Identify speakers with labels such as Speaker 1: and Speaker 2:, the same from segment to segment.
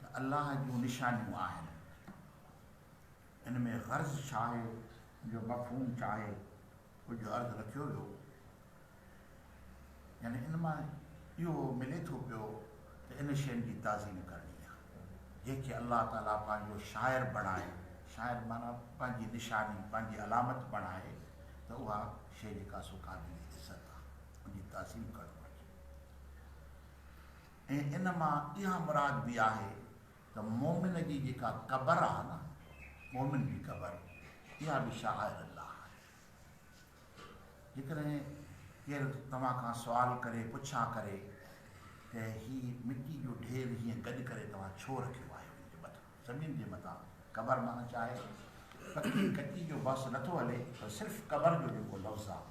Speaker 1: ته الله جون نشانيون آهن. ان ۾ غرض ڇا آهي جو مفهوم ڇا آهي ڪجهه عرض رکيو ويو. يعني ان مان اهو ملي ٿو پيو ته ان شين جي تعظيم ڪرڻي آهي جنهن کي الله تعالي پنهنجو شاعر بڻائي شاعر معنيٰ پنهنجي نشاني پنهنجي علامت بڻائي ته اها شي جيڪا سو قابل عزت آهي ان جي تعظيم ڪرڻ گهرجي. ۽ ان مان اها مراد به آهي ته مؤمن جي جيڪا قبر آهي نه، مؤمن جي قبر، اها به شعائر الله آهي. جيڪڏهن ڪير توهان کان سوال ڪري، پڇا ڪري ته هي مٽي جو ڍير هيئن گڏ ڪري توهان ڇو رکيو آهي ان جي مٿان، زمين جي مٿان، قبر معنيٰ ڇا آهي؟ پڪي ڪچي جو بحث نٿو هلي پر صرف قبر جو جيڪو لفظ آهي.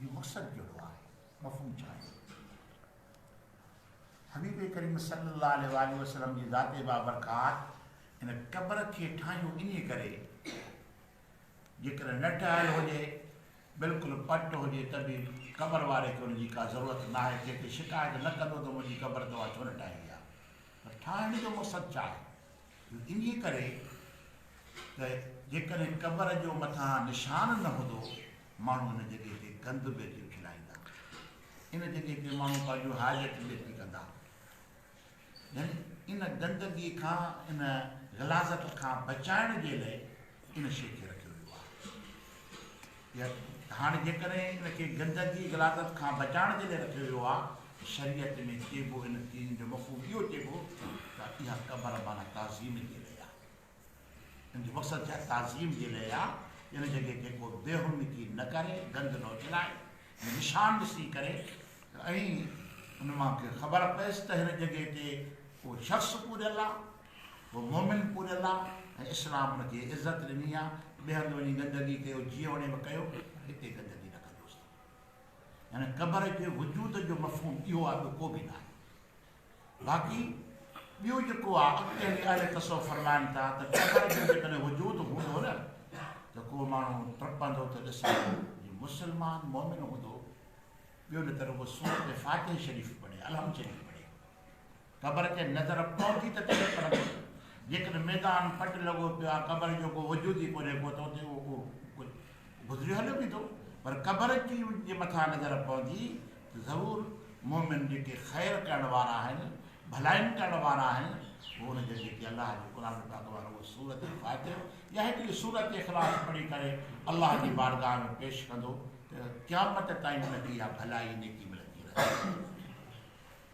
Speaker 1: جو مقصد ڪهڙو آهي؟ مفهوم ڇا آهي؟ حبيب ڪريم صلي الله عليه واٰله وسلم جي ذات بابرڪات ان قبر کي ٺاهيو انهيء ڪري جيڪڏهن نه ٺهيل هجي، بلڪل پٽ هجي ته به قبر واري کي ان جي ڪا ضرورت ناهي، ٿي ته شڪايت نه ڪندو ته منهنجي قبر توهان ڇو نه ٺاهي آهي؟ پر ٺاهڻ جو مقصد ڇا آهي؟ جو انهيء ڪري ته جيڪڏهن قبر جو مٿان نشان نه هوندو ماڻهو ان جڳهه تي گند به پي ڦھلائيندا. ان جڳهه تي ماڻهو پنهنجون حاجت به پي ڪندا. يعني ان گندگي کان ان غلاظت کان بچائڻ جي لئه ان شيء کي رکيو ويو آهي. يا ته هاڻي جيڪڏهن ان کي گندگي غلاظت کان بچائڻ جي لئه رکيو ويو آهي ته شريعت ۾ چئبو ان چيزن جو مفهوم اهو چئبو ته اها قبر معنيٰ تعظيم جي لئه آهي. ان جو مقصد ڇا تعظيم جي لئه آ ان جڳهه تي ڪو بي حرمتي نه ڪري گند نه اڇلائي جو نشان ڏسي ڪري ۽ ان مان کي خبر پيس ته هن جڳهه تي اهو شخص پوريل آ اهو مومن پوريل آ ۽ اسلام ان کي عزت ڏني آ ٻئي هنڌ وڃي گندگي ڪيو جيئن وڻيو به ڪيو پر هتي گندگي نه ڪجوس ته هن قبر جي وجود جو مفهوم اهو آ ٻيو ڪو به ناهي باقي ٻيو جيڪو آ اڳتي هلي اهل تصوف فرمائن ٿا ته ٽپڻ جو جيڪڏهن وجود هوندو نه ته ڪو ماڻهو ٽپندو ته ڏسندو جي مسلمان مؤمن هوندو ٻيو نه ته رڳو سورت فاتح شريف پڙهي الحمد شريف پڙهي قبر کي نظر پوندي ته ڪيئن پڙهندو جيڪڏهن ميدان پٽ لڳو پيو آ قبر جو ڪو وجود ئي ڪونهي ڪو ته اتي اهو ڪجهه گذريو هليو ويندو پر قبر جي ان جي مٿان نظر پوندي ته ضرور مؤمن جيڪي خير ڪرڻ وارا آهن ڀلائين ڪرڻ وارا آهن هو ان جي جيڪي الله جي قرآن پاڪ وارو سورت فاتح يا هڪڙي سورت اخلاص پڙهي ڪري الله جي بارگاهه ۾ پيش ڪندو ته قيامت تائين ان کي اها ڀلائي نيڪي ملندي رهندي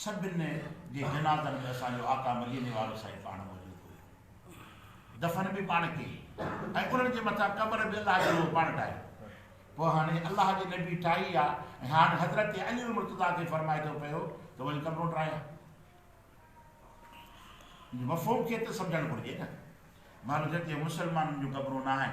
Speaker 1: سڀن جي جنازن ۾ اسان جو آقا مديني وارو سائين پاڻ موجود هيو. دفن به پاڻ ڪئي ۽ انهن جي مٿان قبر به الله جي روح پاڻ ٺاهي. پوء هاڻي الله جي نبي ٺاهي آ ۽ هاڻ حضرت علي المرتضيٰ کي فرمائي ٿو پيو ته وڃ قبرون ٽاهي آ. ان جي مفهوم کي ته سمجهڻ گهرجي نه. مهل جتي مسلمانن جون قبرون ناهن.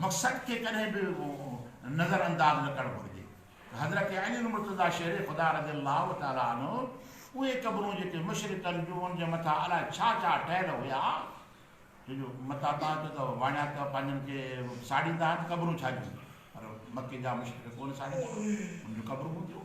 Speaker 1: مقصد کي ڪڏهن به نظر انداز نه ڪرڻ گهرجي ته حضرت علي المرتضيٰ شير خدا رضي الله تعالٰي عنه اهي قبرون جيڪي مشرڪن جون ان جي مٿان الاء ڇا ڇا ٺهيل هيا ڇو جو متان تان چئو ته واڻيا ته پنهنجن کي ساڙيندا آهن ته قبرون ڇا جون پر مڪي جا مشرڪ ڪونه ساڙيندا ان جون قبرون هونديون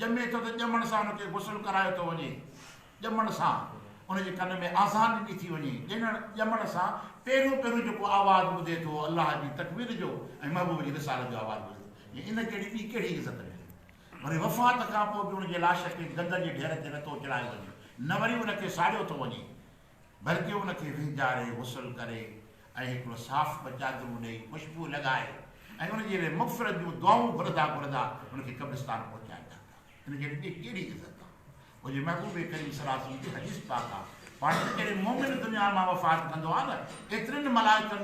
Speaker 1: ڄمي ٿو ته ڄمڻ سان ان کي غسل ڪرايو ٿو وڃي. ڄمڻ سان ان جي ڪن ۾ آذان ڏني ٿي وڃي. ڄڻڻ، ڄمڻ سان پهريون پهريون جيڪو آواز ٻڌي ٿو الله جي تڪبير جو ۽ محبوب جي رسالت جو آواز ٻڌي ٿو. جي ان جهڙي ٻي ڪهڙي عزت ملي. وري وفات کان پوء به ان جي لاش کي گند جي ڍير تي نه ٿو چڙهايو وڃي نه وري ان کي ساڙيو ٿو وڃي. بلڪه ان کي وهنجاري، غسل ڪري ۽ هڪڙو صاف ٻه چادرون ڏئي، خوشبوء لڳائي ۽ ان جي لئه مغفرت جون دعائون گهرندا گهرندا ان کي قبرستان پهچائيندا پيا. ان کي ڏٺي ڪهڙي عزت آ. او جي محبوب ڪريم صلي الله عليه وسلم جي حديث پاڪ آ، پاڻ ته جڏهن مؤمن دنيا مان وفات ڪندو آ ته ايترين ملائڪن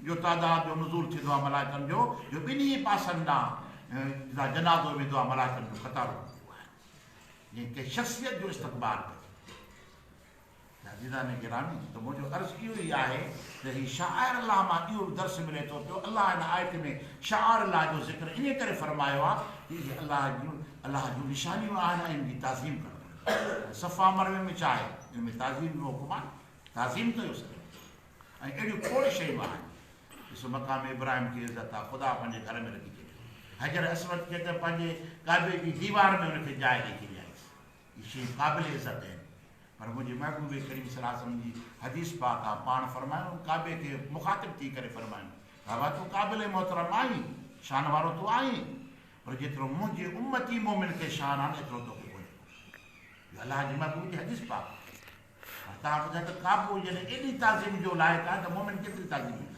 Speaker 1: جو تعداد جو نزول ٿيندو آ ملائڪن جو جو ٻنهي پاسن ڏانهن جتان جنازو ويندو آ ملائڪن جون قطارون هونديون آهن جيئن ڪنهن شخصيت جو استقبال ڪجي. عزيزان گرامي ته منهنجو عرض اهو ئي آهي ته هي شعائر الله مان اهو به درس ملي ٿو پيو الله هن آيت ۾ شعائر الله جو ذڪر انهي ڪري فرمايو آهي ته اهي الله جون الله جون نشانيون آهن ۽ ان جي تعظيم ڪرڻ گهرجي صفا مروي ۾ ڇا آهي ان ۾ تعظيم جو حڪم آهي تعظيم ڪيو سڄڻ جي ۽ اهڙيون کوڙ شيون آهن ڏسو مقام ابراهيم جي عزت آهي خدا پنهنجي گهر ۾ رکي ڇڏيو حجر اسود کي ته پنهنجي ڪعبي جي ديوار ۾ ان کي جاء ڏئي ڇڏيائينس اهي شيون قابل عزت آهن پر منهنجي محبوب ڪريم صلي الله عليه وسلم جي حديث پاڪ آ پاڻ فرمايو هن ڪعبي کي مخاطب ٿي ڪري فرمايو ڪعبه تون قابل ۽ محترم آهين شان وارو تون آهين پر جيترو منهنجي امتي مؤمن کي شان آن ايترو توکي ڪونهي اهو الله جي محبوب جي حديث پاڪ آ پر تان ٻڌاء ته ڪعبو جڏهن ايڏي تعظيم جو لائق آهي ته مؤمن ڪيتري تعظيم ڏيندو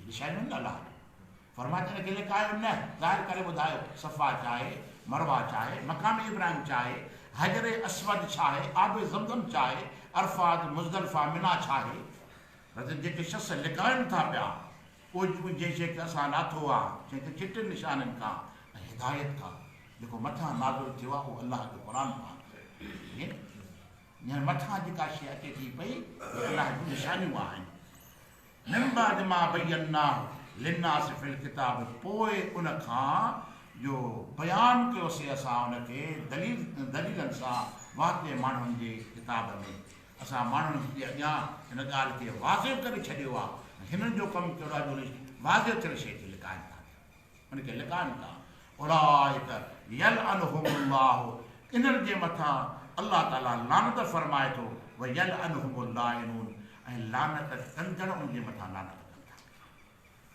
Speaker 1: جن شيء ۾ الله آهي. فرمايو ته ان کي لڪايو نه، ظاهر ڪري ٻڌايو، صفا ڇاهي، مروه ڇاهي، مقام ابراهيم ڇاهي، حجر اسود ڇاهي، آب زمزم ڇاهي، عرفات، مزدلفه، منيٰ ڇاهي؟ رت ته جيڪي شخص لڪائن ٿا پيا، اهو جيڪو جنهن شيء کي اسان لاٿو آهي، جنهن کي چٽن نشانين کان ۽ هدايت کان، جيڪو مٿان نازل ٿيو آهي، اهو الله جو قرآن پاڪ آهي. جنهن مٿان جيڪا شيء اچي ٿي پئي، اهي الله جون نشانيون آهن. من بعد ما بيناه للناس في الڪتاب پوء ان کان جو بيان ڪيوسي اسان ان کي دليل دليلن سان واضح ماڻهن جي ڪتاب ۾، اسان ماڻهن جي اڳيان ان ڳالهه کي واضح ڪري ڇڏيو آهي ۽ هنن جو ڪم ڪهڙو آهي جو واضح ٿيل شيء کي لڪائين ٿا. ان کي لڪائن ٿا اولئڪ يلعنهم الله انهن جي مٿان الله تعالي لعنت فرمائي ٿو ويلعنهم اللاعنون ۽ لعنت ڪندڙ ان جي مٿان لعنت ڪن ٿا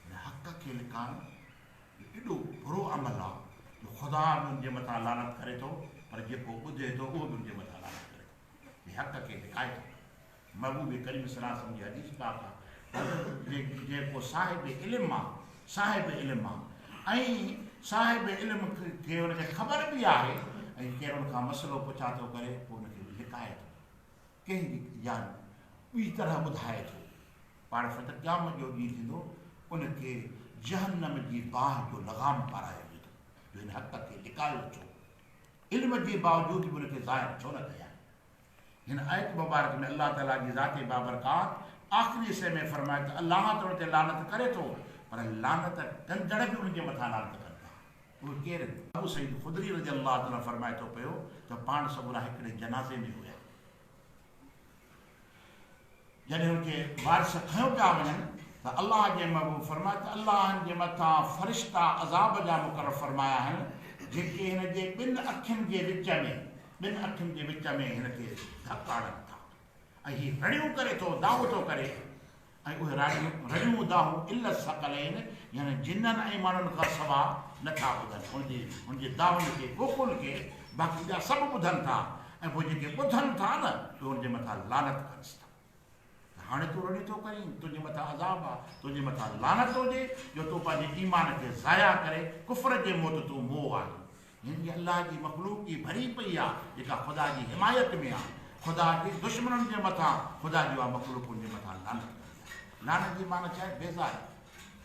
Speaker 1: ان حق کي لڪائن جو ايڏو برو عمل آ جو خدا به ان جي مٿان لعنت ڪري ٿو پر جيڪو ٻڌي ٿو اهو به ان جي مٿان لعنت ڪري ٿو جي حق کي لڪائي ٿو محبوب ڪريم صلي الله عليه وسلم جي حديث پاڪ آ حضرت جي ڪو صاحب علم آ صاحب علم آ ۽ صاحب علم کي ان کي خبر به آهي ۽ ڪير ان کان مسئلو پڇا ٿو ڪري پوء ان کي لڪائي ٿو ڪنهن جي يا ٻي طرح ٻڌائي ٿو پاڻ فتح قيامت جو ڏينهن ٿيندو ان کي جهنم جي باهه جو لغام پارايو ويندو جو هن حق کي لڪايو ڇو علم جي باوجود به ان کي ظاهر ڇو نه ڪيا هن آيت مبارڪ ۾ الله تعالي جي ذات بابرڪات آخري حصي ۾ فرمايو ته الله تن تي لعنت ڪري ٿو پر لعنت ڪندڙ به ان جي مٿان لعنت ڪن ٿا. اهي ڪير هن؟ ابو سعيد خدري رضي الله عنه فرمائي ٿو پيو ته پاڻ سڳورا هڪڙي جنازي ۾ هيا. جڏهن اتي وارث کنيو پيا وڃن ته الله جي محبوب فرمايو ته الله هن جي مٿان فرشتا عذاب جا مقرر فرمايا آهن جيڪي هن جي ٻن اکين جي وچ ۾ ٻن اکين جي وچ ۾ هن تي ڌڪ هڻن ٿا ۽ هي رڙيون ڪري ٿو دانهون ٿو ڪري ۽ اهي رڙيون رڙيون دانهون الا الثقلين يعني جنن ۽ ماڻهن کان سوا نٿا ٻڌن ان جي ان جي دانهن کي ڪوڪل کي باقي ٻيا سڀ ٻڌن ٿا ۽ پوء جيڪي ٻڌن ٿا نه اهي ان جي مٿان لعنت ڪريس ٿا ته هاڻي تون رڙيون ٿو ڪرين، تنهنجي مٿان عذاب آ، تنهنجي مٿان لعنت هجي جو تون پنهنجي ايمان کي ضايع ڪري ڪفر جي موت تون موء آهين. هن جي الله جي مخلوق ئي ڀري پئي آ جيڪا خدا جي حمايت ۾ آ، خدا جي دشمنن جي مٿان خدا جي اها مخلوق ان جي مٿان لعنت ڪندي آ. لعنت جي معنيٰ ڇا آهي؟ بيزاري.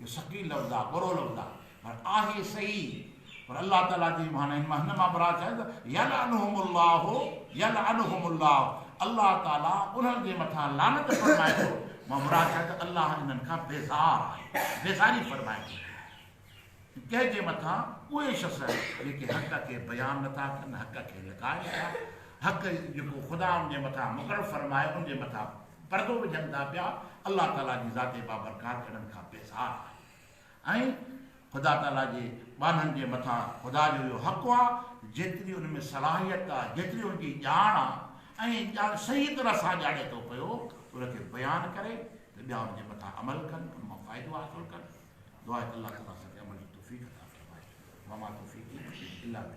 Speaker 1: اهو ثقيل لفظ آهي ڳرو لفظ آهي پر آهي صحيح پر الله تعالي جي معنيٰ هن مان هن مان مراد ڇا ته يلعنهم الله يلعنهم الله الله تعالي انهن جي مٿان لعنت فرمائي ٿو مان مراد ڇا ته الله انهن کان بيزار آهي بيزاري فرمائي ٿو ڪنهن جي مٿان اهي شخص جيڪي حق کي بيان نٿا ڪن حق کي لڪائن ٿا حق جيڪو خدا ان جي مٿان مقرر فرمائي ان جي مٿان پردو وجهن ٿا پيا، الله تعاليٰ جي ذات بابرڪات اهڙن کان بيزار آهي ۽ خدا تعاليٰ جي ٻانهن جي مٿان خدا جو اهو حق آهي جيتري ان ۾ صلاحيت آهي، جيتري ان جي ڄاڻ آهي ۽ ڄاڻ صحيح طرح سان ڄاڻي ٿو پيو ته ان کي بيان ڪري ته ٻيا ان جي مٿان عمل ڪن، ان مان فائدو حاصل ڪن. دعا آهي ته الله تعاليٰ اسان کي عمل جي توفيق عطا فرمائي. وما توفيقي الا بالله.